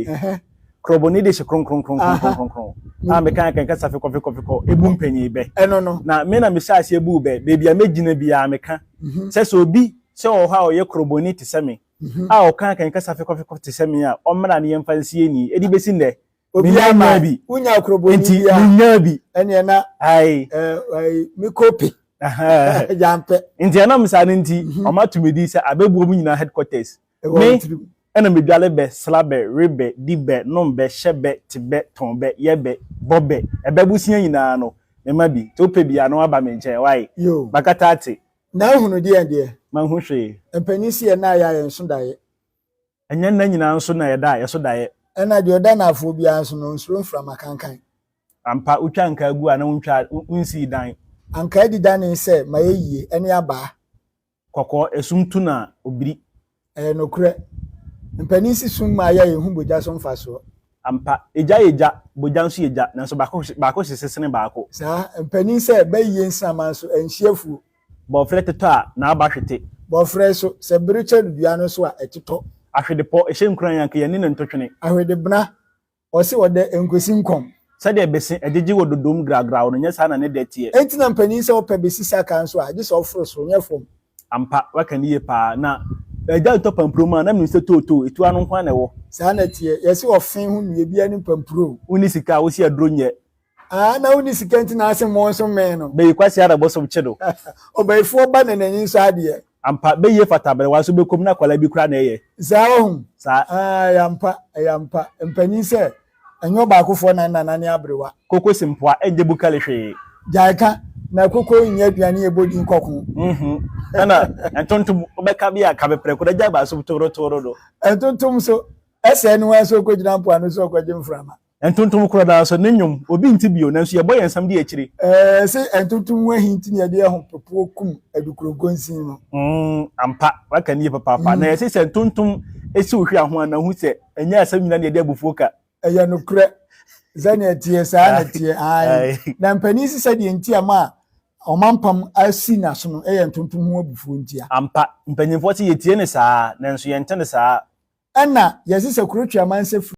Ɛhɛ, krɔbɔ ne de hyɛ kronkron kronkron kronkron kronkron. Na me kan kan kasa fekɔ fekɔ fekɔ ebu mpanyin bɛ. Ɛno no. Na me na me hyɛ aseɛ bu bɛ, baabi a me gyina biara me ka. Mhm. Sɛ sɛ obi sɛ ɔwɔ hɔ a ɔyɛ krɔbɔ ni te sɛ me, mhm. a ɔkan kan kasa fekɔ fekɔ te sɛ me a, ɔmmra ne yɛn fa nsi ani. Edi besi nnɛ. Obi a ma bi. Unya krɔbɔ ni bi a. Unya bi. Ɛnneɛ na. Ayi. Ɛɛ, me kope. Ɛhɛn. Yampɛ. Nti ɛnam saa no nti, ɔmo atumidi sɛ abebuo mu nyinaa headquarters. Me na medwale bɛ, sra bɛ, we bɛ, di bɛ, nom bɛ, hyɛ bɛ, te bɛ, tɔn bɛ, yɛ bɛ, bɔ bɛ. Ɛbɛ bosea nyinaa no, me ma bi. Nti wopɛ bi a, na woaba me nkyɛn, wai? Yoo. Makata ate. Na ahunu deɛn deɛ? Manhu hwee. Mpanin se yɛ nna a yɛ a yɛn so daeɛ. Ɛnyɛ nna nyinaa nso na yɛda a yɛ so daeɛ. Ɛna deɛ ɔda nnaafoɔ biara nso no, ɔnsuro mframa kankan. Ampa, wotwa ankaa gu a na wontwaa, wonsii dan. Ankaa di danee sɛ, ma yɛ yie, ɛne abaa. Kɔkɔɔ, esum tu no a, obiri. Ɛyɛ nokorɛ. Mpanin si sum mu a yɛn nhu bogya so mfasoɔ. Ampa, egya yɛ gya, bogya nso yɛ gya, nanso baako hye, baako hye sesene baako. Saa, mpanin sɛ bɛyeyɛ nsinaman so ɛnhye afuo. Bɔɔferɛ tetɔ a, n'aba hwete. Bɔɔferɛ nso, sɛ bere kyɛre dua no so a, ɛtetɔ. Ahwedepɔ, ɛhyɛ nkuran a, anka yɛn ani na ntotwene. Ahwedebena, Ɔse ɔdɛ nkwesi nkɔm. Sɛdeɛ bese agyegye wɔ dodom gragraw no, nyɛ saa na ne dɛ teɛ. Enti na mpanin sɛ ɔpɛ besi sakaa nso a, gye sɛ ɔforo soro, nyɛ fam. Ampa, woaka no yie paa. Na agya retɔ pampuro mu a, na menim sɛ tootoo, etuo ano nko ara na ɛwɔ. Saa na ɛteɛ. Yɛse ɔfe ho nnua biara ne mpampuro o. Wonni sika a, wosi aduro nyɛ. Aa na wonni sika nti na ase mo nso mmee no. Bɛyi kwasea na bosom kye no. Ɔbayifoɔ ba na n'ani nsɔ adeɛ. Ampa, bɛyie fata aberewa nso bɛkɔm na akwadaa bi koraa na ɛyɛ. Saa ɔhom. Saa. Aa ɛyɛ ampa, ɛyɛ ampa. Mpanin sɛ, ɛnyɛ ɔbaakofoɔ na nanane aberewa. Koko si mpoa, ɛnyɛ bukali hwee. Gyae ka, na koko nyɛ aduane a ɛbɔ din kɔko. Mmhmm, ɛna ntontom, wobɛka bi a, ka me prɛko na gyae basom toorotooro no. Ntontom nso, ɛsɛe no ara sɛ ɔkɔgyina mpoano sɛ ɔrekɔgye mframa. Ɛntontom koro no ara so ne nnwom, obi nte bio, nanso yɛbɔ yɛn nsam di akyire. Ɛɛ, se ɛntontom ho ahi nti na yɛde ahopopoɔ kum Adukuronkonsin no. Mm, ampa, waka no yie papaapa. Na ɛse sɛ ntontom si wo hwea ho a, na hu sɛ ɛnyɛ asɛm nyinaa na yɛde abufuo ka. Ɛyɛ nokorɛ. Sɛdeɛ ɛteɛ, saa ara na ɛteɛ. Ae. Na mpanin se sɛdeɛ nti a ma ɔmampam asi n'aso no yɛ ntontom ho abufuo nti a. Ampa, mpanyinfoɔ se yɛtie no saa ara, nanso yɛnte no saa ara. Ɛna, yɛse sɛ kuro Tweamansa firi.